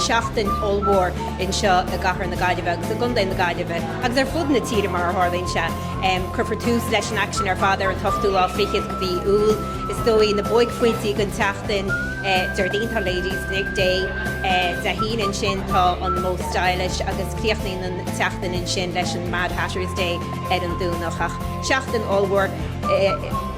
seachtain ollmhór anseo i gcathair na Gaillimhe agus i gContae na Gaillimhe agus ar fud na tíre mar a tharlaíonn sé. Cuirfear tús leis an aicsean ar fad ar an t-ochtú lá fichead de mhí Iúil. Is dóigh na buaicphointí den tseachtain Déardaoin tá Ladies Day Dé hAoine ansin tá an Most Stylish agus críochnaíonn an tseachtain ansin leis an Mad Hatters Day ar an Domhnach ach seachtain ollmhór.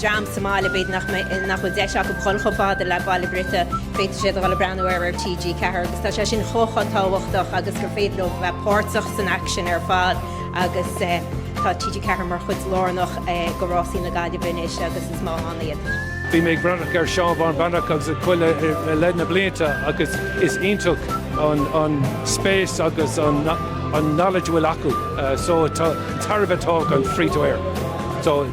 dream sa mbaile b'fhéidir nach mbeidh, nach bhfuil deis acu dhul chomh fada le Ballybrit, féadfaidh siad a dhul ag breathnú air ar TG4 agus tá sé sin chomh tábhachtach agus gur féidir leo bheith páirteach san aicsean ar fad agus tá TG4 mar chuid lárnach go Rásaí na Gaillimhe anois agus is maith ann iad. Bhí mé ag breathnú ar Seán Bán Breathnach agus a chuile le na blianta agus is iontach an spéis agus an knowledge a bhfuil acu so tá tairbhe atá ann free to air so